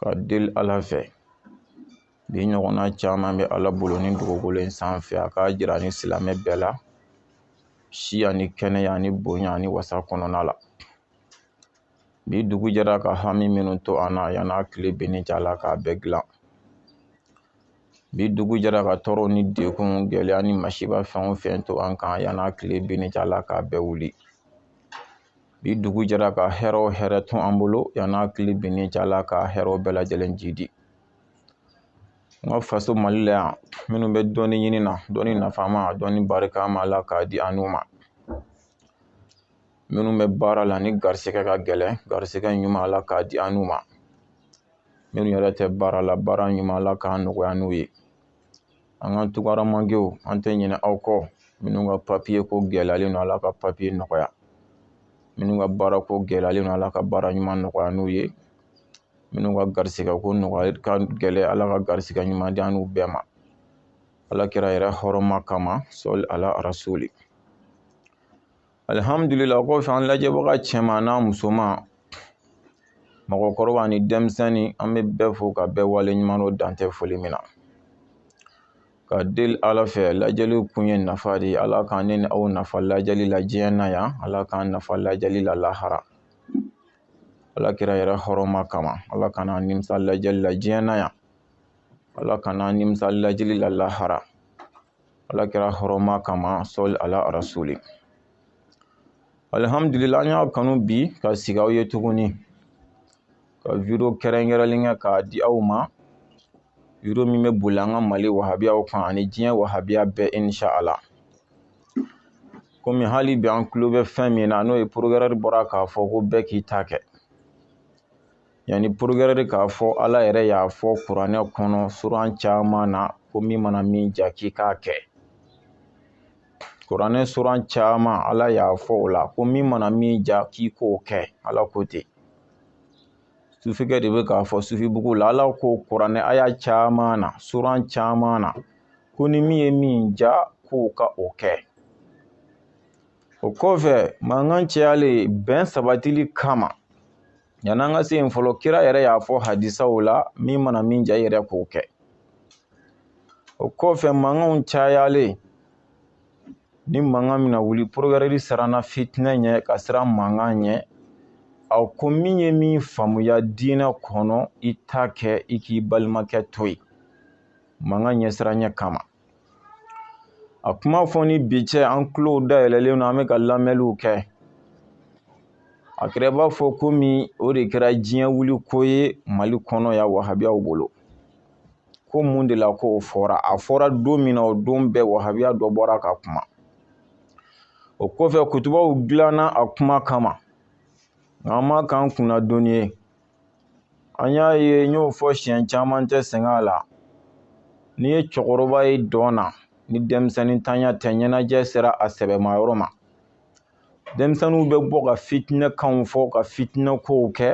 ka deli ala fɛ bi ɲɔgɔnna caman bɛ ala bolo ni dugukolo in sanfɛ a k'a jira ni silamɛ bɛɛ la si ani kɛnɛya ni bonya ni wasa kɔnɔna la bi dugu jɛra ka hami minnu to an na yan'a tile binni cɛ ala k'a bɛɛ dilan bi dugu jɛra ka tɔɔrɔ ni degun gɛlɛya ni masiba fɛn o fɛn to an kan yan'a tile binni cɛ ala k'a bɛɛ wuli bi dugu jɛra ka hɛrɛ o hɛrɛ to an bolo yan'a tile binni cɛ ala ka hɛrɛw bɛɛ lajɛlen jiidi n ka faso mali la yan minnu bɛ dɔnni ɲini na dɔnni nafama dɔnni barikama ala k'a di an n'u ma minnu bɛ baara la ni garisɛgɛ ka gɛlɛn garisɛgɛ ɲuman ala k'a di an n'u ma minnu yɛrɛ tɛ baara la baara ɲuman ala k'a nɔgɔya n'u ye an ka tunkaramankew an tɛ ɲinɛ aw kɔ minnu ka papiye ko gɛlɛyalen don ala ka papiye nɔgɔya minnu ka baara ko gɛlɛyalen don ala ka baara ɲuman nɔgɔya n'u ye minnu ka garisigɛ ko nɔgɔya ka gɛlɛn ala ka garisigɛ ɲuman di an n'u bɛɛ ma ala kira yɛrɛ hɔrɔma kama sɔli ala arasuli alihamdulila kɔfɛ an lajɛbaga cɛman n'a musoman mɔgɔkɔrɔba ni denmisɛnnin an bɛ bɛɛ fo ka bɛɛ wale ɲuman dɔn dan tɛ foli min na ka deli ala fɛ lajɛli kun ye nafa de ye ala k'an ne ni aw nafa lajɛli la diɲɛ na yan ala k'an nafa lajɛli la lahara ala kira yɛrɛ hɔrɔma kama ala kana an nimisa lajɛli la diɲɛ na yan ala kana an nimisa lajɛli la lahara ala kira hɔrɔma kama sɔli ala arasuli alihamdulila an y'a kanu bi ka sigi aw ye tuguni ka video kɛrɛnkɛrɛnlen kɛ k'a di aw ma video min bɛ boli an ka mali wahabiyaw kan ani diɲɛ wahabiya bɛɛ insha ala komi hali bi an tulo bɛ fɛn min na n'o ye porokirɛri bɔra k'a fɔ ko bɛɛ k'i ta kɛ yanni porokirɛri k'a fɔ ala yɛrɛ y'a fɔ kuranɛ kɔnɔ suran caman na ko min mana min ja k'i k'a kɛ kuranɛ suran caman ala y'a fɔ o la ko min mana min ja k'i k'o kɛ ala ko ten sufikɛ de bɛ k'a fɔ sufibugu la ala ko kuranɛ aya caman na suran caman na ko ni min ye min ja k'o ka o kɛ o kɔfɛ mankan cayalen bɛn sabatili kama Yanni an ka se yen fɔlɔ kira yɛrɛ y'a fɔ hadisaw la min mana min ja i yɛrɛ k'o kɛ o kɔfɛ mankanw cayalen ni mankan min na wuli porokirɛri siranna fitinɛ ɲɛ ka siran mankan ɲɛ a ko min ye min faamuya diinɛ kɔnɔ i ta kɛ i k'i balimakɛ to yen mankan ɲɛsiranya kama a kuma fɔ ni bi cɛ an tulo dayɛlɛlen don an bɛ ka lamɛnliw kɛ a kɛra b'a fɔ komi o de kɛra diɲɛ wuli ko ye mali kɔnɔ yan wahabiyaw bolo ko mun de la ko o fɔra a fɔra don min na o don bɛɛ wahabiya dɔ bɔra ka kuma o kɔfɛ kutubaw dilanna a kuma kama nka an m'a k'an kunna doni ye an y'a ye n y'o fɔ siɲɛ caman n tɛ sɛgɛn a la n'i ye cɛkɔrɔba ye dɔn na ni denmisɛnnintanya tɛ ɲɛnajɛ sera a sɛbɛma yɔrɔ ma denmisɛnninw bɛ bɔ ka fitinɛ kanw fɔ ka fitinɛ kow kɛ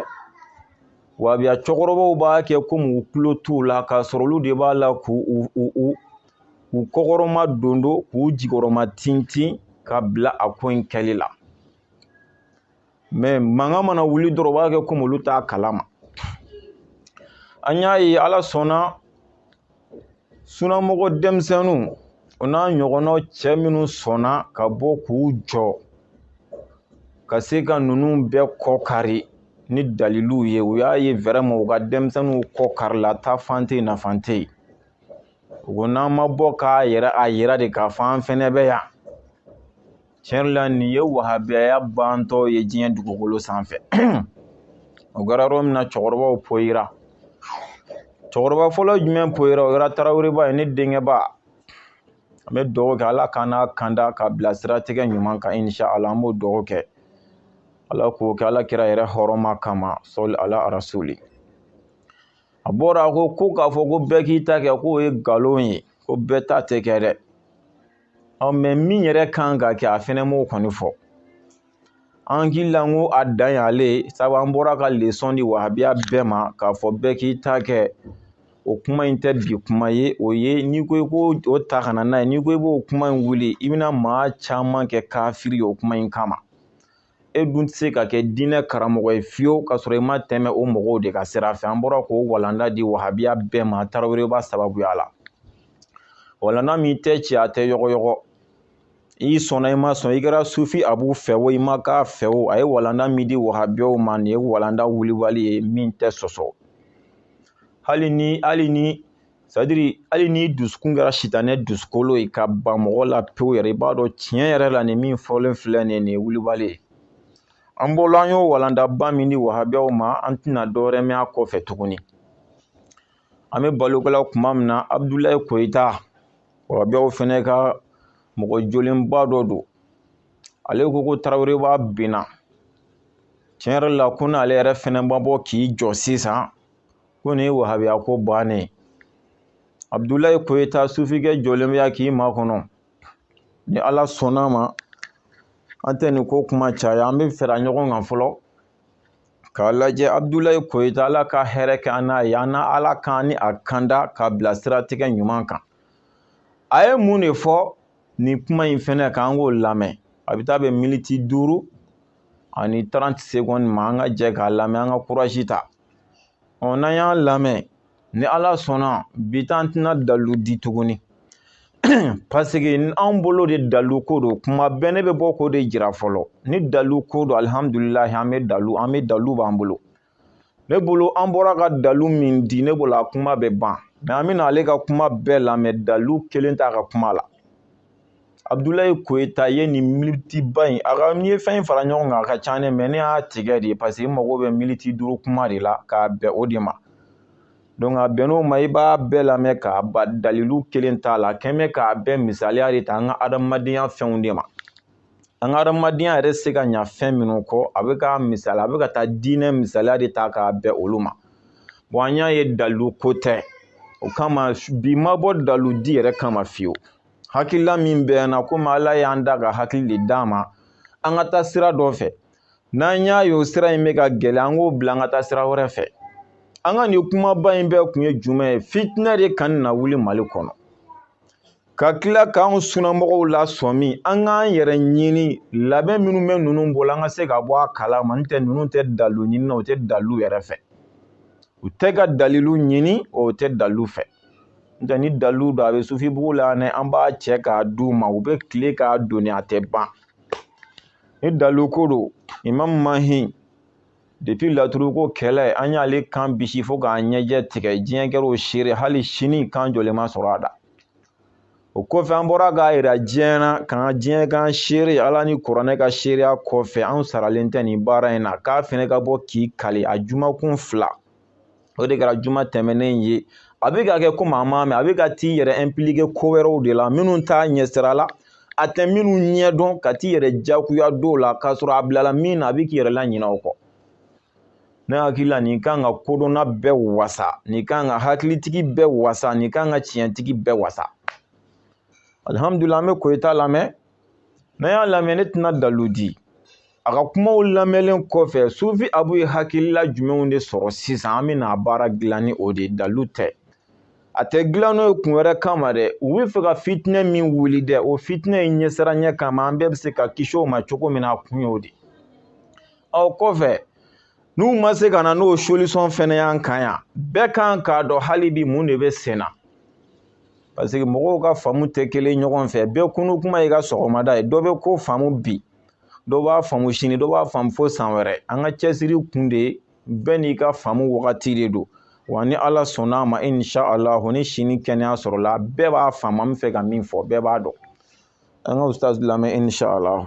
wahabiya cɛkɔrɔbaw b'a kɛ komi u tulo t'u la k'a sɔrɔ olu de b'a la k'u u u u u kɔkɔrɔma dondon k'u jukɔrɔma tintin ka bila a ko in kɛli la mɛ mankan mana wuli dɔrɔn u b'a kɛ komi olu t'a kalama an y'a ye ala sɔnna sunamɔgɔ denmisɛnninw o n'a ɲɔgɔnnaw cɛ minnu sɔnna ka bɔ k'u jɔ ka se ka ninnu bɛɛ kɔ kari ni daliluw ye u y'a ye wɛrɛma u ka denmisɛnninw kɔ karila taafan tɛ nafan tɛ yen u ko n'an ma bɔ k'a yɛrɛ a yira de k'a fɔ an fɛnɛ bɛ yan tiɲɛ la nin ye wahabiyaya bantɔ ye diɲɛ dugukolo sanfɛ o kɛra yɔrɔ min na cɛkɔrɔbaw poyira cɛkɔrɔba fɔlɔ jumɛn poyira o kɛra taraweleba ye ne denkɛba an bɛ dugawu kɛ ala k'an n'a kanda ka bila siratigɛ ɲuman kan inisa ala an b'o dugawu kɛ ala k'o kɛ ala kira yɛrɛ hɔrɔma kama sɔli ala arasuli a bɔra a ko ko k'a fɔ ko bɛɛ k'i ta kɛ k'o ye nkalon ye ko bɛɛ ta tɛ kɛ dɛ ɔ mɛ min yɛrɛ kan ka kɛ a fɛnɛ m'o kɔni fɔ an hakili la n ko a dan y'ale sabu an bɔra ka lesɔn di wahabiya bɛɛ ma k'a fɔ bɛɛ k'i ta kɛ o kuma in tɛ bi kuma ye o ye n'i ko i k'o ta ka na n'a ye n'i ko i b'o kuma in wuli i bɛna maa caman kɛ kafiri ye o kuma in kama e dun tɛ se ka kɛ diinɛ karamɔgɔ ye fiyewu k'a sɔrɔ i ma tɛmɛ o mɔgɔw de ka sira fɛ an bɔra k'o walanda di wahabiya bɛɛ ma taraweleba sababuya la walanda min tɛ ci a tɛ yɔgɔyɔgɔ i sɔnna i ma sɔn i kɛra sufi abu fɛ o i ma k'a fɛ o a ye walanda min di wahabiyaw ma nin ye walanda wulibali ye min tɛ sɔsɔ hali ni hali ni sadiri hali n'i dusukun kɛra sitanɛ dusukolo ye ka ban mɔgɔ la pewu yɛrɛ i b'a dɔn tiɲɛ yɛrɛ la nin min fɔlen filɛ nin ye wulibali ye an bolo an y'o walandaba min di wahabiyaw ma an tɛna dɔwɛrɛ mɛn a kɔfɛ tuguni an bɛ baro kɛ la kuma min na abudulayi koyita wahabiyaw fɛnɛ ka mɔgɔ jolenba dɔ don ale ko ko taraweleba binna tiɲɛ yɛrɛ la ko n'ale yɛrɛ fɛnɛ ma bɔ k'i jɔ sisan ko nin ye wahabiya ko bannen abudulayi koyita sufikɛ jɔlen bɛ yan k'i makɔnɔ ni ala sɔnn'a ma an tɛ nin ko kuma caya an bɛ fara ɲɔgɔn kan fɔlɔ k'a lajɛ abudulayi koyita ala ka hɛrɛ kɛ an n'a ye an na ala k'an ni a kanda k'a bila siratigɛ ɲuman kan a ye mun de fɔ nin kuma in fɛnɛ kan an k'o lamɛn a bɛ taa bɛn militi duuru ani trente secondes ma an ka jɛ k'a lamɛn an ka courage ta ɔ n'an y'a lamɛn ni ala sɔnna bi an tɛna dalu di tuguni paseke anw bolo de dalu ko don kuma bɛɛ ne bɛ bɔ k'o de jira fɔlɔ ni dalu ko don alihamudulilayi an bɛ dalu an bɛ dalu b'an bolo ne bolo an bɔra ka dalu min di ne bolo a kuma bɛ ban mais an bɛna ale ka kuma bɛɛ lamɛn dalu kelen t'a ka kuma la abudulayi koyita ye nin militiba in a ka n'i ye fɛn in fara ɲɔgɔn kan a ka ca ne mais ne y'a tigɛ de paseke n mago bɛ militi duuru kuma de la k'a bɛn o de ma donc a bɛnn'o ma i b'a bɛɛ lamɛn k'a ban dalilu kelen t'a la quand même k'a bɛɛ misaliya de ta an ka adamadenya fɛnw de ma an ka adamadenya yɛrɛ se ka ɲa fɛn minnu kɔ a bɛ ka misali a bɛ ka taa diinɛ misaliya de ta k'a bɛn olu ma bon an y'a ye dalilu ko tɛ o kama bi ma bɔ dalilu di yɛrɛ kama fiyewu hakilila min bɛ n na komi ala y'an da ka hakili de d'an ma an ka taa sira dɔ fɛ n'an y'a ye o sira in bɛ ka gɛlɛya an k'o bila an ka taa sira wɛrɛ fɛ an ka nin kumaba in bɛɛ kun ye jumɛn ye fitinɛ de kana wuli mali kɔnɔ ka tila k'an sunamɔgɔw lasɔmi an k'an yɛrɛ ɲini labɛn minnu bɛ ninnu bolo an ka se ka bɔ a kala ma n'o tɛ ninnu tɛ dalu ɲini na u tɛ dalu yɛrɛ fɛ u tɛ ka dalilu ɲini u tɛ dalu fɛ n'o tɛ ni dalilu don a bɛ sufibugu la ni an b'a cɛ k'a d'u ma u bɛ tile k'a doni a tɛ ban ni dalilu ko don imam mahi depuis laturuko kɛlɛ an y'ale kan bisi fo k'a ɲɛjɛ tigɛ diɲɛ kɛra o seere hali sini kan jɔlen ma sɔrɔ a da o kɔfɛ an bɔra k'a yira diɲɛ na k'an ka diɲɛ k'an seere ala ni kuranɛ ka seereya kɔfɛ anw saralen tɛ nin baara in na k'a fɛnɛ ka bɔ k'i kali a jumakun fila o de kɛra juma tɛmɛnen ye a bɛ ka kɛ komi a m'a mɛn a bɛ ka t'i yɛrɛ impliquer ko wɛrɛw de la minnu t'a ɲɛsira la a tɛ minnu ɲɛdɔn ka t'i yɛrɛ jagoya dɔw la k'a sɔrɔ a bilala min na a bɛ k'i yɛrɛ laɲinɛ o kɔ ne hakili la nin kan ka kodɔnna bɛɛ wasa nin kan ka hakilitigi bɛɛ wasa nin kan ka tiɲɛtigi bɛɛ wasa alihamudulila an bɛ koyita lamɛn n'an y'a lamɛn ne tɛna dalu di a ka kumaw lamɛnlen kɔfɛ sufi abu ye hakilila jumɛnw de sɔrɔ sisan an bɛna a baara dilan ni o de ye dalu tɛ a tɛ dilan n'o ye kun wɛrɛ kama dɛ u bɛ fɛ ka fitinɛ min wuli dɛ o fitinɛ in ɲɛsiranɲɛ kama an bɛɛ bɛ se ka kisi o ma cogo min na a kun y'o de ye o kɔfɛ n'u ma se ka na n'o solisɔn fɛnɛ y'an kan yan bɛɛ kan k'a dɔn hali bi mun de bɛ sen na paseke mɔgɔw ka faamu tɛ kelen ɲɔgɔn fɛ bɛɛ kunun kuma y'i ka sɔgɔmada ye dɔ bɛ ko faamu bi dɔ b'a faamu sini dɔ b'a faamu fo san wɛrɛ an ka cɛsiri kun de ye bɛɛ n'i ka faamu wagati de don wa ni ala sɔnna a ma inshallah ni sini kɛnɛya sɔrɔla bɛɛ b'a faamu an bɛ fɛ ka min fɔ bɛɛ b'a dɔn an ka ustaz lamɛn inshallah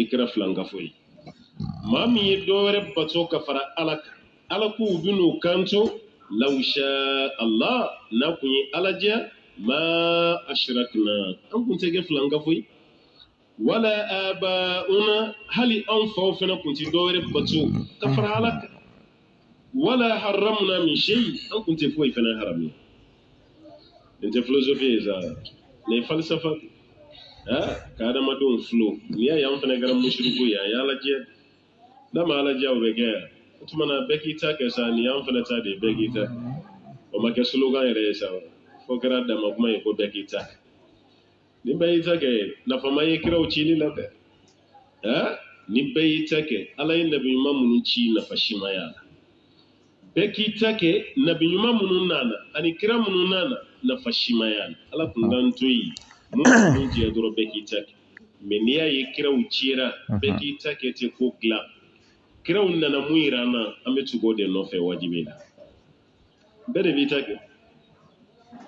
i kɛra filankafo ye maa min ye dɔ wɛrɛ bato ka fara ala kan ala k'u bin'u kanto law sha ala n'a kun ye ala diya ma ashrakna an kun tɛ kɛ filankafo ye wala abauna hali anw faw fana kun tɛ dɔ wɛrɛ bato ka fara ala kan wala haramna min shayi an kun tɛ foyi fana haramuya nin tɛ filosofi ye sa nin ye falisafa de ah ka adamadenw filo n'i y'a ye an fana kɛra musiriku ye a y'ala diya n'a ma ala diya o bɛ kɛ yan o tuma na bɛɛ k'i ta kɛ sa nin y'an fana ta de ye bɛɛ k'i ta o ma kɛ slogan yɛrɛ ye sa fo kɛra dama kuma ye ko bɛɛ k'i ta ni bɛɛ y'i ta kɛ nafa ma ye kiraw cili la dɛ ɛɛ ni bɛɛ y'i ta kɛ ala ye nabi ɲuman minnu ci nafa si ma y'a la bɛɛ k'i ta kɛ nabi ɲuman minnu nana ani kira minnu nana nafa si ma y'a la ala kun k'an to yen minnu jɛ dɔrɔn bɛɛ k'i ta kɛ mɛ n'i y'a ye kiraw cira bɛɛ k'i ta kɛ tɛ ko dilan kiraw nana mun yira an na an bɛ tugu o de nɔfɛ wajibi la bɛɛ de b'i ta kɛ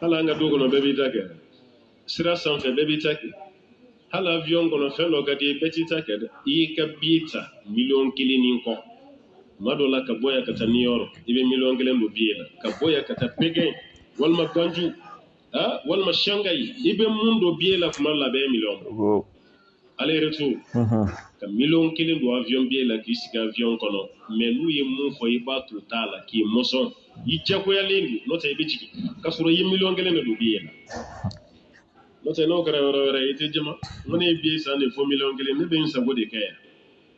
hali an ka du kɔnɔ bɛɛ b'i ta kɛ sira sanfɛ bɛɛ b'i ta kɛ hali avion kɔnɔ fɛn dɔ ka di ye bɛɛ t'i ta kɛ dɛ i y'i ka biye ta miliyɔn kelen ni kɔ tuma dɔ la ka bɔ yan ka taa new york i bɛ miliyɔn kelen don biye la ka bɔ yan ka taa pekɛn walima ganju walima shangayi i bɛ mun don biye la tuma la bɛɛ miliyɔn aller retour ka miliyɔn kelen don avion biye la k'i sigi avion kɔnɔ mɛ n'u ye mun fɔ i b'a to t'a la k'i mɔsɔn i jagoyalen don n'o tɛ i bɛ jigin k'a sɔrɔ i ye miliyɔn kelen de don biye la n'o tɛ n'o kɛra yɔrɔ wɛrɛ i tɛ jɛn a ma ko ne ye biye san de fo miliyɔn kelen ne bɛ n sago de kɛ yan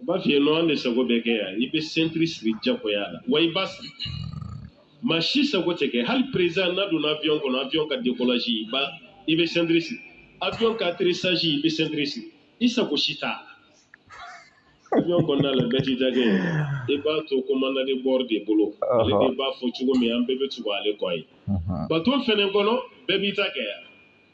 u b'a f'i ye nɔn an de sago bɛ kɛ yan i bɛ sentiri siri jagoya la wa i b'a siri maa si sago tɛ kɛ hali perezidan n'a donna avion kɔnɔ avion ka décollage i bɛ sentiri siri avion ka atterrissage i bɛ sentiri siri i sago si t'a la avion kɔnɔna la bɛɛ t'i ta kɛ i b'a to commandant de bord de bolo ale de b'a fɔ cogo min an bɛɛ bɛ tugu ale kɔ ye bato fɛnɛ kɔnɔ bɛɛ b'i ta kɛ yan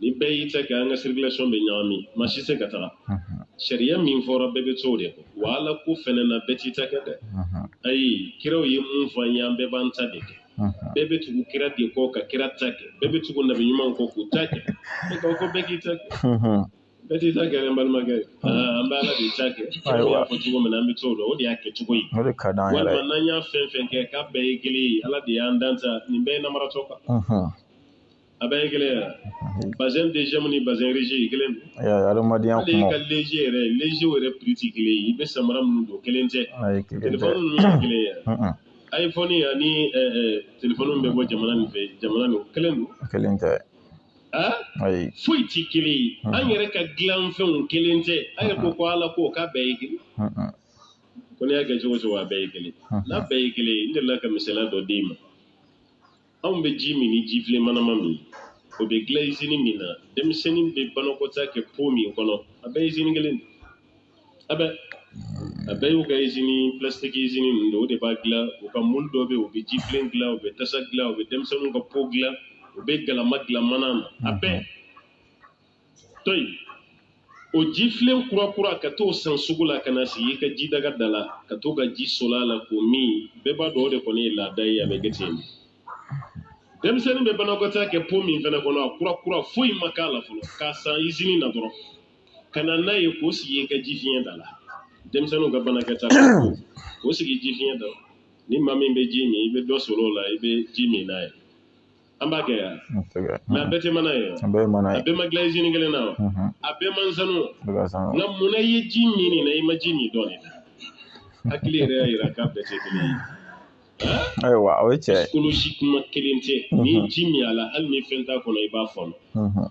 ni bɛɛ y'i ta kɛ an ka circulation bɛ ɲagami maa si tɛ se ka taga sariya min fɔra bɛɛ bɛ to o de kɔ wa Ala ko fana na bɛɛ t'i ta kɛ dɛ ayi kiraw ye mun fɔ an ye an bɛɛ b'an ta de kɛ bɛɛ bɛ tugu kira de kɔ ka kira ta kɛ bɛɛ bɛ tugu nabi ɲumanw kɔ k'u ta kɛ ne ko ko bɛɛ k'i ta kɛ bɛɛ t'i ta kɛ dɛ n balimakɛ an bɛ Ala de ta kɛ kiraw y'a fɔ cogo min na an bɛ to o la o de y'a kɛcogo ye walima n'an y'a fɛn fɛn kɛ k'a bɛɛ ye kelen ye Ala de y'an dan sa nin bɛɛ ye namaratɔ kan. A bɛɛ ye kelen ye wa? Mhm. Basɛn deziyɛmu ni basɛn risi ye kelen don. Ayi ayi, adamadenya Hali i kumaw. ka lezi yɛrɛ, leziw yɛrɛ prix tɛ kelen ye. I bɛ samara minnu don, kelen tɛ. Ayi, kelen tɛ. Telefɔni ninnu tɛ kelen ye wa? Un-un. iPhone ani ɛ ɛ telefɔni min bɛ bɔ jamana nin fɛ, jamana nin, o kelen don. Kelen tɛ. Han? Ayi. Foyi tɛ kelen ye. Un-un. An yɛrɛ ka dilanfɛnw kelen tɛ. A yɛrɛ ko ko Ala ko k'a bɛɛ ye kelen. Un-un. Ko n'i y'a kɛ cogo o cogo, a bɛɛ ye kelen. Un-un. N'a bɛɛ ye kelen ye, n delila ka misaliya dɔ d'i ma. Anw bɛ ji min ni jifilen manama min o bɛ dilan izini min na denmisɛnnin bɛ banakɔtaa kɛ po min kɔnɔ a bɛɛ ye izini kelen a bɛ a bɛɛ y'u ka izini plastiki izini ninnu don o de b'a dilan u ka mulu dɔ bɛ yen u bɛ jifilen dilan u bɛ tasa dilan u bɛ denmisɛnnin ka po dilan u bɛ galama dilan mana na a bɛɛ to yen o jifilen kurakura ka t'o san sugu la ka na sigi i ka jidaga da la ka to ka ji soli a la k'o min bɛɛ b'a dɔn o de kɔni ye laada ye a bɛ kɛ ten denmisɛnnin bɛ banakɔtaa kɛ po min fana kɔnɔ a kurakura foyi ma k'a la fɔlɔ k'a san izini na dɔrɔn ka na n'a ye k'o sigi i ka jifiɲɛ da la denmisɛnninw ka banakɔtaa k'o sigi jifiɲɛ da la ni maa min bɛ ji min i bɛ dɔ soli o la i bɛ ji min n'a ye an b'a kɛ yan mɛ a bɛɛ tɛ mana ye a bɛɛ ma dilan izini kelen na wa a bɛɛ man sanu nka mun na i ye ji min nin na i ma ji min dɔ nin na hakili yɛrɛ y'a yira k'a bɛɛ tɛ kelen ye ayiwa o ye psychologiquement kelen tɛ n'i ye ji min a la hali ni fɛn t'a kɔnɔ i b'a fɔɔnɔ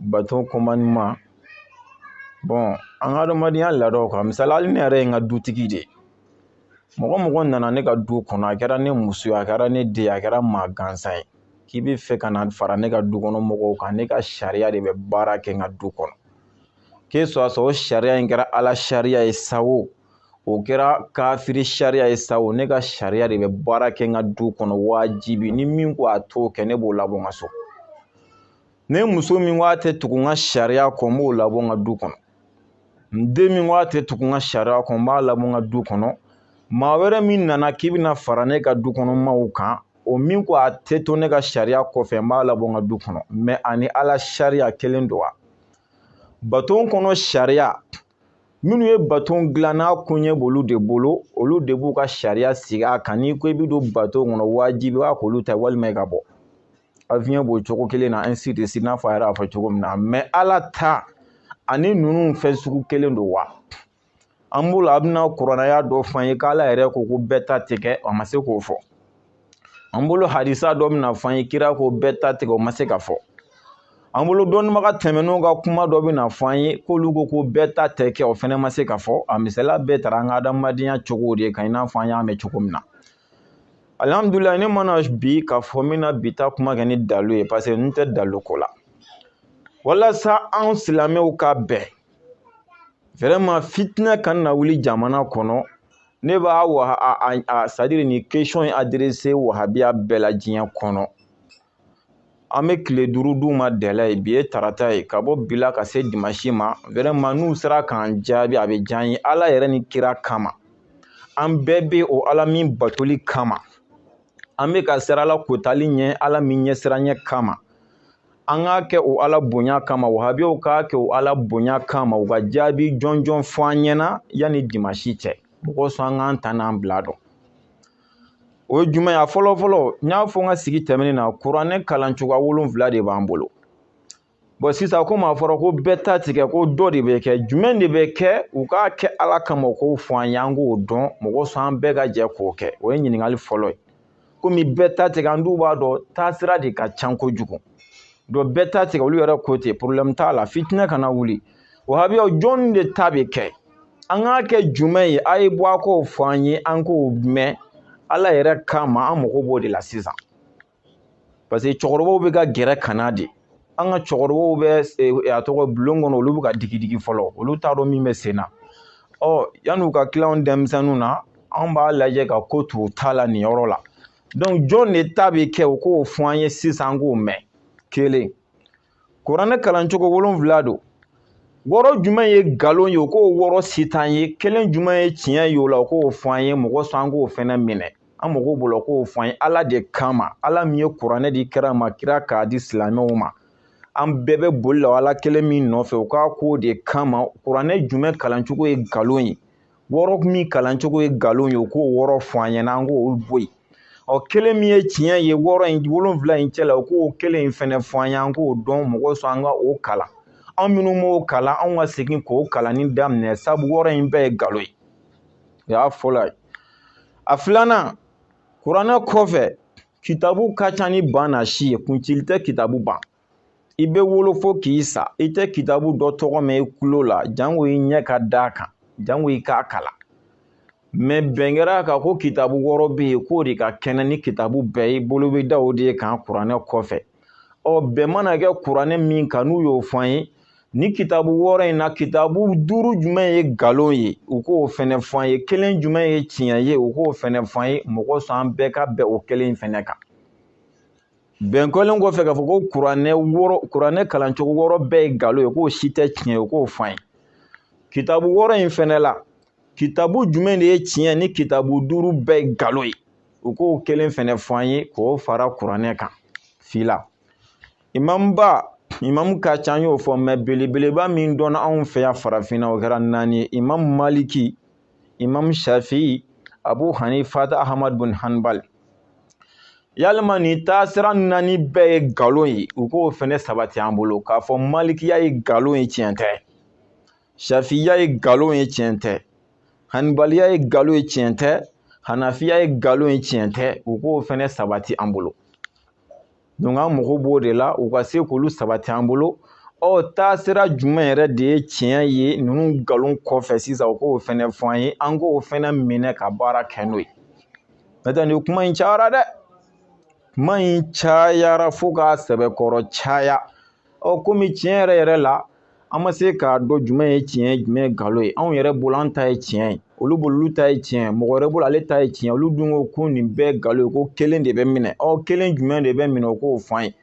baton commandement bon an ka adamadenya laadaw kan misali hali ne yɛrɛ ye n ka dutigi de ye mɔgɔ o mɔgɔ nana ne ka du kɔnɔ a kɛra ne muso ye a kɛra ne den ye a kɛra maa gansan ye k'i bɛ fɛ ka na fara ne ka du kɔnɔ mɔgɔw kan ne ka sariya de bɛ baara kɛ n ka du kɔnɔ que ce soit o sariya in kɛra ala sariya ye sa o o kɛra kafiri sariya ye sa o ne ka sariya de bɛ baara kɛ n ka du kɔnɔ wajibi ni min ko a t'o kɛ ne b'o labɔ n ka so ne muso min ko a tɛ tugu n ka sariya kɔ n b'o labɔ n ka du kɔnɔ n den min ko a tɛ tugu n ka sariya kɔ n b'a labɔ n ka du kɔnɔ maa wɛrɛ min nana k'i bɛna fara ne ka du kɔnɔ maaw kan o min ko a tɛ to ne ka sariya kɔfɛ n b'a labɔ n ka du kɔnɔ mɛ ani ala sariya kelen don wa baton kɔnɔ sariya minnu ye baton dilan n'a koɲɛ b'olu de bolo olu de b'u ka sariya sigi a kan n'i ko i bɛ don baton kɔnɔ wajibi b'a k'olu ta walima i ka bɔ avion b'o cogo kelen na ainsi de suite n'a fɔ a yɛrɛ y'a fɔ cogo min na mais ala ta ani ninnu fɛn sugu kelen don wa an b'o la a bɛna kuranɛ aya dɔ f'an ye k'ala yɛrɛ ko ko bɛɛ ta tɛ kɛ a ma se k'o fɔ an bolo hadisa dɔ bɛna fɔ an ye kira ko bɛɛ ta tɛ kɛ o ma se ka fɔ an bolo dɔnnibaga tɛmɛnenw ka kuma dɔ bɛna fɔ an ye k'olu ko ko bɛɛ ta tɛ kɛ o fɛnɛ ma se ka fɔ a misaliya bɛɛ tara an ka adamadenya cogo de kan i n'a fɔ an y'a mɛn cogo min na alihamudulila ne ma na bi k'a fɔ n bɛna bi ta kuma kɛ ni dalu ye paseke n tɛ dalu ko la walasa an silamɛw ka bɛn vraiment fitinɛ kana na wuli jamana kɔnɔ ne b'a wa a a c'est à dire nin question in adressé wahabiya bɛɛ la diɲɛ kɔnɔ an bɛ tile duuru d'u ma délai ye bi ye tarata ye ka bɔ bi la ka se dimansi ma vraiment n'u sera k'an jaabi a bɛ diya an ye ala yɛrɛ ni kira kama an bɛɛ bɛ o ala min batoli kama an bɛ ka siran ala kotali ɲɛ ala min ɲɛsiranyɛ kama an k'a kɛ o ala bonya kama wahabiyaw k'a kɛ o ala bonya kama u ka jaabi jɔnjɔn fɔ an ɲɛna yanni dimansi cɛ mɔgɔ sɔn an k'an ta n'an bila dɔn o ye jumɛn ye a fɔlɔ fɔlɔ n y'a fɔ n ka sigi tɛmɛnen na kuranɛ kalan cogoya wolonfila de b'an bolo bon sisan komi a fɔra ko bɛɛ ta tɛ kɛ ko dɔ de bɛ kɛ jumɛn de bɛ kɛ u k'a kɛ ala kama u k'o fɔ an ye an k'o dɔn mɔgɔ sɔn an bɛɛ ka jɛ k'o kɛ o ye ɲininkali fɔlɔ ye komi bɛɛ ta tɛ kɛ an dun b'a dɔn taasira de ka ca kojugu donc bɛɛ ta tɛ kɛ olu yɛrɛ ko ten porobilɛmu t'a la fitinɛ kana wuli wahabiyaw jɔnni de ta bɛ kɛ an k'a kɛ jumɛn ye a ye bɔ a k'o fɔ an ye an k'o mɛn ala yɛrɛ kama an mago b'o de la sisan parce que cɛkɔrɔbaw bɛ ka gɛrɛ ka na de an ka cɛkɔrɔbaw bɛ eh, a tɔgɔ bulon kɔnɔ olu bɛ ka digidigi fɔlɔ olu t'a dɔn min bɛ sen na ɔ yan'u ka tila denmisɛnninw na an b'a lajɛ ka ko t'u ta la nin yɔrɔ la donc jɔn de ta bɛ kɛ u k'o fɔ an ye sisan an k'o mɛn kelen kuranɛ kalancogo wolonfila don wɔɔrɔ jumɛn ye nkalon ye u k'o wɔɔrɔ citer an ye kelen jumɛn ye tiɲɛ ye o la u k'o fɔ an ye mɔgɔ sɔn an k'o fɛnɛ minɛ an mago b'o la u k'o fɔ an ye ala de kama ala min ye kuranɛ di kira ma kira k'a di silamɛw ma an bɛɛ bɛ boli la ala kelen min nɔfɛ u k'a k'o de kama kuranɛ jumɛn kalancogo ye nkalon ye wɔɔrɔ min kalancogo ye nkalon ye u k'o wɔɔrɔ fɔ an ɲɛna an k'o bɔ yen ɔ kelen min ye tiɲɛ ye wɔɔrɔ in wolonfila in cɛ la u k'o kelen in fɛnɛ fɔ an ye an k'o dɔn mɔgɔ sɔn an ka o kalan anw minnu m'o kalan anw ka segin k'o kalanni daminɛ sabu wɔɔrɔ in bɛɛ ye nkalon ye o y'a fɔlɔ ye a filanan kuranɛ kɔfɛ kitabu ka ca ni ban na si ye kuncili tɛ kitabu ban i bɛ wolo fo k'i sa i tɛ kitabu dɔ tɔgɔ mɛn i kulo la jango i ɲɛ ka d'a kan jango i k'a kalan mɛ bɛn kɛra a kan ko kitabu wɔɔrɔ bɛ yen k'o de ka kɛnɛ ni kitabu bɛɛ ye bolo bɛ da o de ye kan kuranɛ kɔfɛ ɔ bɛn mana kɛ kuranɛ min kan n'u y'o fɔ an ye nin kitabu wɔɔrɔ in na kitabu duuru jumɛn ye nkalon ye u k'o fɛnɛ fɔ an ye kelen jumɛn ye tiɲɛ ye u k'o fɛnɛ fɔ an ye mɔgɔ sɔn an bɛɛ ka bɛn o kelen in fɛnɛ kan bɛn kɛlen kɔfɛ k'a fɔ ko kuranɛ wɔɔrɔ kuranɛ kalancogo wɔɔrɔ bɛɛ ye nkalon ye k'o si tɛ tiɲɛ ye k'o fɔ an ye kitabu wɔɔrɔ in fɛnɛ la kitabu jumɛn de ye tiɲɛ ni kitabu duuru bɛɛ ye nkalon ye u k'o kelen fɛnɛ fɔ an ye k'o fara kuranɛ kan fila imamba imamu ka ca an y'o fɔ mɛ belebeleba min dɔnna anw fɛ yan farafinna o kɛra naani ye imamu maliki imam shafi abu hanifata ahmad bin hanbal yalima nin taasira naani bɛɛ ye nkalon ye u k'o fɛnɛ sabati an bolo k'a fɔ malikiya ye nkalon ye tiɲɛ tɛ shafiya ye nkalon ye tiɲɛ tɛ hanibaliya ye nkalon ye tiɲɛ tɛ hanafiya ye nkalon ye tiɲɛ tɛ u k'o fɛnɛ sabati an bolo donc an mago b'o de la u ka se k'olu sabati an bolo ɔ taasira jumɛn yɛrɛ de ye tiɲɛ ye ninnu nkalon kɔfɛ sisan u k'o fɛnɛ fɔ an ye an k'o fɛnɛ minɛ ka baara kɛ n'o ye n'o tɛ nin kuma in cayara dɛ kuma in cayara fo k'a sɛbɛkɔrɔ caya ɔ komi tiɲɛ yɛrɛ yɛrɛ la an ma se k'a dɔn jumɛn ye tiɲɛ ye jumɛn ye nkalon ye anw yɛrɛ bolo an ta ye tiɲɛ ye olu bolo olu ta ye tiɲɛ ye mɔgɔ wɛrɛ bolo ale ta ye tiɲɛ ye olu dun ko ko nin bɛɛ nkalon ye ko kelen de bɛ minɛ ɔ kelen jumɛn de bɛ minɛ o k'o fɔ an ye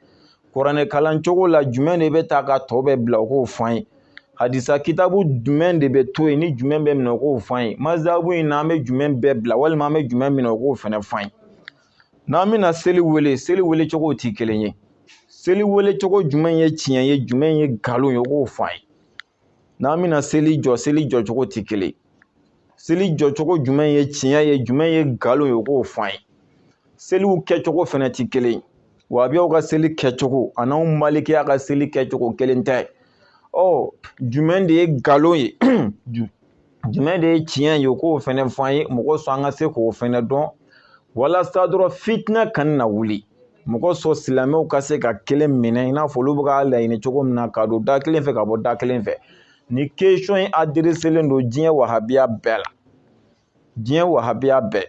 kuranɛ kalan cogo la jumɛn de bɛ ta ka tɔ bɛɛ bila o k'o fɔ an ye hadisa kitabu jumɛn de bɛ to yen ni jumɛn bɛ minɛ o k'o fɔ an ye mazabu in na an bɛ jumɛn bɛɛ bila walima an bɛ jumɛn minɛ o k'o fɛnɛ fɔ an ye n'an bɛna seli wele seli wele cogo tɛ kelen ye seli wele cogo jumɛn ye tiɲɛ ye jumɛn ye nkalon ye o k'o fɔ an ye n'an bɛna seli jɔ seli jɔ cogo tɛ kelen ye seli jɔ cogo jumɛn ye tiɲɛ ye jumɛn ye nkalon ye o k'o fɔ an ye seliw kɛcogo fɛnɛ tɛ kelen ye wahabiyaw ka seli kɛcogo ani anw malikiya ka seli kɛcogo kelen tɛ ɔ jumɛn de ye nkalon ye jumɛn de ye tiɲɛ ye k'o fɛnɛ fɔ an ye mɔgɔ sɔn an ka se k'o fɛnɛ dɔn walasa dɔrɔn fitina kana na wuli mɔgɔ sɔn silamɛw ka se ka kelen minɛ i n'a fɔ olu bɛ k'a laɲini cogo min na ka don da kelen fɛ ka bɔ da kelen fɛ nin question in adereselen don diɲɛ wahabiya bɛɛ la diɲɛ wahabiya bɛɛ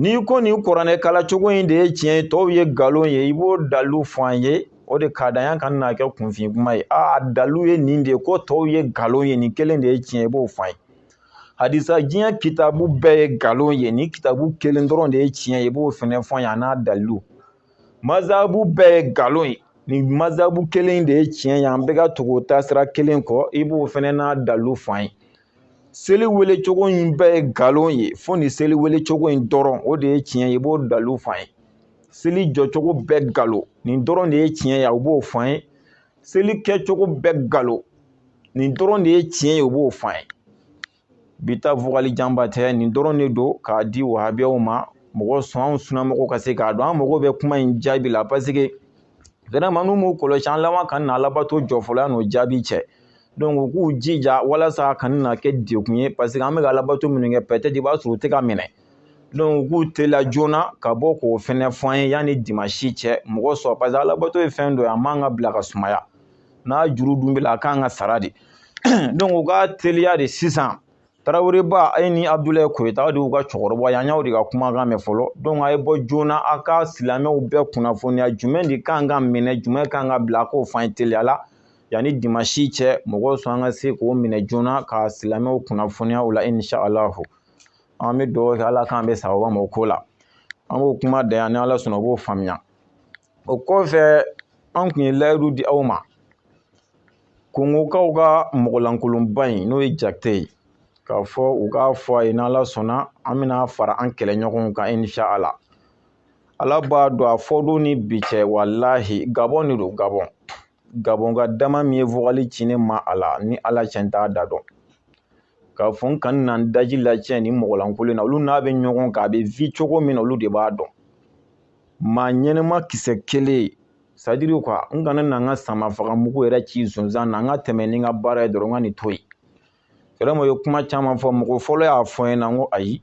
N'i ko nin kuranɛ kalan cogo in de ye tiɲɛ ye tɔw ye nkalon ye i b'o dalu fɔ an ye o de ka d'an ye a kana kɛ kunfin kuma ye aa dalu ye nin de ye ko tɔw ye nkalon ye nin kelen de ye tiɲɛ i b'o fɔ an ye hadisa diɲɛ kitabu bɛɛ ye nkalon ye nin kitabu kelen dɔrɔn de ye tiɲɛ ye i b'o fɛnɛ fɔ an ye a n'a dalu mazabu bɛɛ ye nkalon ye nin mazabu kelen de ye tiɲɛ ye an bɛɛ ka tugu taasira kelen kɔ i b'o fɛnɛ n'a dalu fɔ an ye seli wele cogo in bɛɛ ye nkalon ye fo nin seli wele cogo in dɔrɔn o de ye tiɲɛ ye i b'o dalilu f'an ye seli jɔcogo bɛɛ nkalon nin dɔrɔn de ye tiɲɛ ye u b'o f'an ye seli kɛcogo bɛɛ nkalon nin dɔrɔn de ye tiɲɛ ye u b'o f'an ye bi ta vogali janba tɛ nin dɔrɔn de don k'a di wahabiyaw ma mɔgɔ sɔn anw sunamɔgɔw ka se k'a dɔn an mago bɛ kuma in jaabi la paseke vraiment n'u m'u kɔlɔsi an laban ka na alabato jɔ fɔlɔ yan'o jaabi cɛ u k'u jija walasa a kana na kɛ degun ye paseke an bɛ ka alabato minnu kɛ peut-être i b'a sɔrɔ u tɛ ka minɛ donc u k'u teliya joona ka bɔ k'o fɛnɛ fɔ an ye yanni dimansi cɛ mɔgɔ sɔn paseke alabato ye fɛn dɔ ye a man ka bila ka sumaya n'a juru dun b'i la a kan ka sara de donc u ka teliya de sisan taraweleba a ye ni abudulayi koyita aw de y'u ka cɛkɔrɔba ye an y'aw de ka kumakan mɛn fɔlɔ dɔnku a ye bɔ joona aw ka silamɛw bɛɛ kunnafoniya jumɛn de kan ka minɛ jumɛn kan ka bila k'o f'an ye teliya la yanni dimansi cɛ mɔgɔ sɔn an ka se k'o minɛ joona ka silamɛw kunnafoniya o la inshallah an bɛ dugawu kɛ ala k'an bɛn sawaba ma o ko la an b'o kuma da yan ni ala sɔnna o b'o faamuya o kɔfɛ an kun ye layidu di aw ma kongokaw ka mɔgɔlankolonba in n'o ye jate ye k'a fɔ u k'a fɔ a ye n'ala sɔnna an bɛna fara an kɛlɛɲɔgɔnw kan inshallah ala b'a dɔn a fɔ don ni bi cɛ walahi gabɔn de don gabɔn gabɔnka dama min ye vogali ci ne ma a la ni ala cɛ n t'a da dɔn k'a fɔ n kana na n daji lacɛn nin mɔgɔlankolon na olu n'a bɛ ɲɔgɔn kan a bɛ vi cogo min na olu de b'a dɔn maa ɲɛnɛma kisɛ kelen c'est-à-dire que n kana na n ka sama faga mugu yɛrɛ ci sonsan na n ka tɛmɛ ni n ka baara ye dɔrɔn n ka nin to yen vraiment u ye kuma caman fɔ mɔgɔ fɔlɔ y'a fɔ n ɲɛna n ko ayi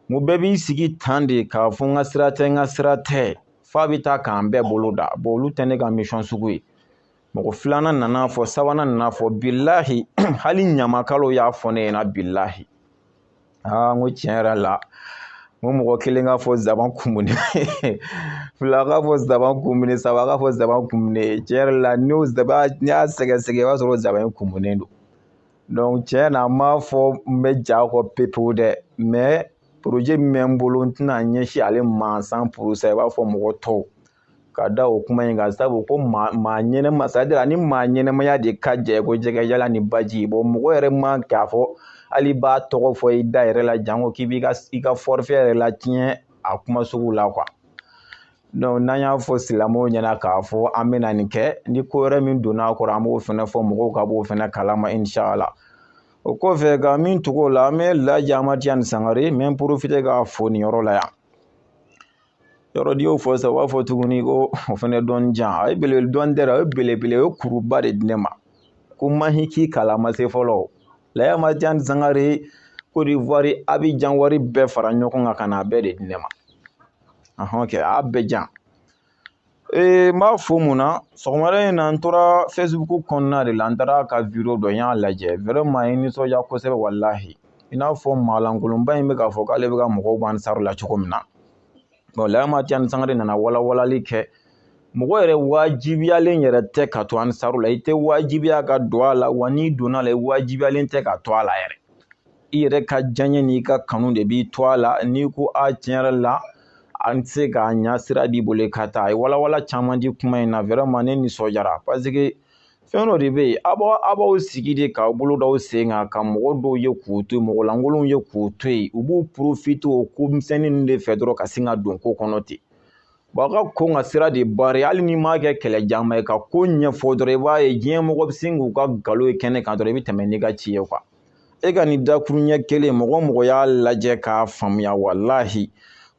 n ko bɛɛ b'i sigi tan de k'a fɔ n ka sira tɛ n ka sira tɛ f'a bɛ taa k'an bɛɛ bolo da bɔn olu tɛ ne ka misɔn sugu ye mɔgɔ filanan nan'a fɔ sabanan nan'a fɔ bilahi hali ɲamakalaw y'a fɔ ne ɲɛna bilahi aa n ko tiɲɛ yɛrɛ la n ko mɔgɔ kelen k'a fɔ zaban kumuni fila k'a fɔ zaban kumuni saba k'a fɔ zaban kumuni tiɲɛ yɛrɛ la n'o zaban n'i y'a sɛgɛsɛgɛ i b'a sɔrɔ zaban in kumunen don donc tiɲɛ na n m'a fɔ n bɛ j'a kɔ pepewu dɛ mɛ poroje min bɛ n bolo n tɛn'a ɲɛsin ale ma cent pour cent i b'a fɔ mɔgɔ tɔw ka da o kuma in kan sabu ko maa maa ɲɛnɛma c'est-à-dire ni maa ɲɛnɛmaya de ka jɛ ko jɛgɛ yala ni baji bon mɔgɔ yɛrɛ ma k'a fɔ hali b'a tɔgɔ fɔ i da yɛrɛ la janko k'i b'i ka i ka forfait yɛrɛ latiɲɛ a kuma sugu la quoi donc n'an y'a fɔ silamɛw ɲɛna k'a fɔ an bɛna nin kɛ ni ko wɛrɛ min donna a kɔrɔ an b'o fana fɔ mɔgɔw ka b'o fana kalama inshala o kɔfɛ ka min tugu o la an bɛ laji amadu tijani sangare n bɛ n profite k'a fo nin yɔrɔ la yan yɔrɔ n'i y'o fɔ sisan u b'a fɔ tuguni ko o fɛnɛ dɔn jan a ye belebele dɔɔni tɛ dɛ o ye belebele o ye kuruba de di ne ma ko mahi k'i kala ma se fɔlɔ laji amadu tijani sangare kodiwari abijan wari bɛɛ fara ɲɔgɔn kan ka na a bɛɛ de di ne ma ahɔn kɛ a y'a bɛɛ jan ee n b'a fo mun na sɔgɔmada in na n tora facebook kɔnɔna de la n taara ka video dɔ n y'a lajɛ vraiment ye nisɔndiya kosɛbɛ walahi i n'a fɔ maalankolonba in bɛ k'a fɔ k'ale bɛ ka mɔgɔw bɔ ansaru la cogo min na bon laji amadu tijani sangare nana walawalali kɛ mɔgɔ yɛrɛ wajibiyalen yɛrɛ tɛ ka to ansaru la i tɛ wajibiya ka don a la wa n'i donna a la i wajibiyalen tɛ ka to a la yɛrɛ i yɛrɛ ka diyaɲɛ n'i ka kanu de b'i to a la n'i ko a tiɲɛ yɛrɛ la an tɛ se k'a ɲa sira b'i bolo ka taa a ye walawala caman di kuma in na vraiment ne nisɔndiyara parce que fɛn dɔ de bɛ yen aw b'aw aw b'aw sigi de k'aw bolo d'aw sen kan ka mɔgɔ dɔw ye k'u to yen mɔgɔ lankolonw ye k'u to yen u b'u profite o ko misɛnnin ninnu de fɛ dɔrɔn ka sin ka don ko kɔnɔ ten bon ka kɔn ka sira de bari hali n'i m'a kɛ kɛlɛjanba ye ka ko ɲɛfɔ dɔrɔn i b'a ye diɲɛ mɔgɔ bɛ sin k'u ka nkalon ye kɛnɛ kan dɔrɔn i bɛ tɛmɛ n'i ka ci ye quoi e ka nin dakuru ɲɛ kelen mɔgɔ mɔgɔ y'a lajɛ k'a faamuya walahi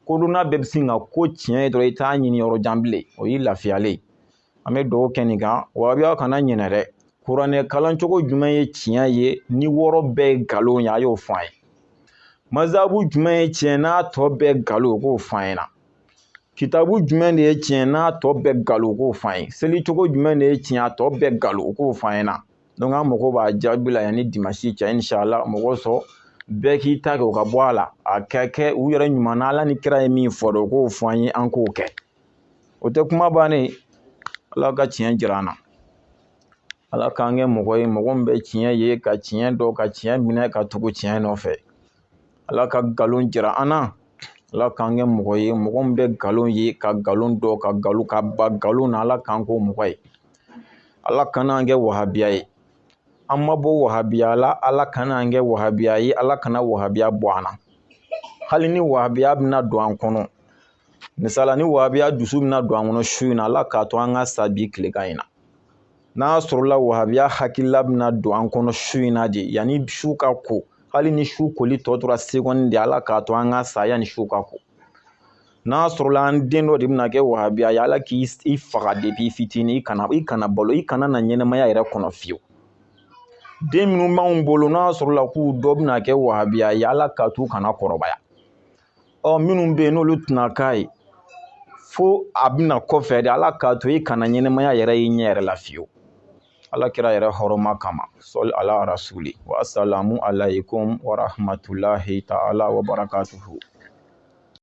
kodɔnna bɛɛ bɛ sin ka ko tiɲɛ ye dɔrɔn i t'a ɲini yɔrɔ jan bilen o y'i lafiyalen ye an bɛ dugawu kɛ nin kan wa aw kana ɲinɛ dɛ kuranɛ kalan cogo jumɛn ye tiɲɛ ye ni wɔɔrɔ bɛɛ ye nkalon ye a y'o fɔ an ye mazabu jumɛn ye tiɲɛ n'a tɔ bɛɛ nkalon o k'o fɔ an ɲɛna kitabu jumɛn de ye tiɲɛ n'a tɔ bɛɛ nkalon o k'o fɔ an ye seli cogo jumɛn de ye tiɲɛ a tɔ bɛɛ nkalon o k'o fɔ an ɲɛna donc an mago b'a jaabi la yanni dimansi cɛ inshala mɔgɔ sɔrɔ bɛɛ k'i ta kɛ u ka bɔ a la a ka kɛ u yɛrɛ ɲuman na ala ni kira ye min fɔ dɔrɔn u k'o fɔ an ye an k'o kɛ o tɛ kuma bannen ala ka tiɲɛ jira an na ala k'an kɛ mɔgɔ ye mɔgɔ min bɛ tiɲɛ ye ka tiɲɛ dɔn ka tiɲɛ minɛ ka tugu tiɲɛ nɔfɛ ala ka nkalon jira an na ala k'an kɛ mɔgɔ ye mɔgɔ min bɛ nkalon ye ka nkalon dɔn ka nkalon ka ban nkalon na ala k'an k'o mɔgɔ ye ala kana an kɛ wahabiya ye an ma bɔ wahabiya la ala kana an kɛ wahabiya ye ala kana wahabiya bɔ an na hali ni wahabiya bɛna don an kɔnɔ misala ni wahabiya dusu bɛna don an kɔnɔ su in na ala k'a to an ka sa bi tilegan in na n'a sɔrɔla wahabiya hakilila bɛna don an kɔnɔ su in na de yanni su ka ko hali ni su koli tɔ tora segɔni de ala k'a to an ka sa yanni su ka ko n'a sɔrɔla an den dɔ de bɛna kɛ wahabiya ye ala k'i faga depi i fitinin i kana balo i kana na ɲɛnamaya yɛrɛ kɔnɔ fiyewu den minnu b'anw bolo n'a sɔrɔla k'u dɔ bɛna kɛ wahabiya ye ala k'a to u kana kɔrɔbaya ɔ minnu bɛ yen n'olu tɛna k'a ye fo a bɛ na kɔfɛ de ala k'a to i kana ɲɛnamaya yɛrɛ y'i ɲɛ yɛrɛ la fiyewu ala kira yɛrɛ hɔrɔma kama sɔli ala rasuli wasalamu alaykum warahmatulahi taala wabarakatuhu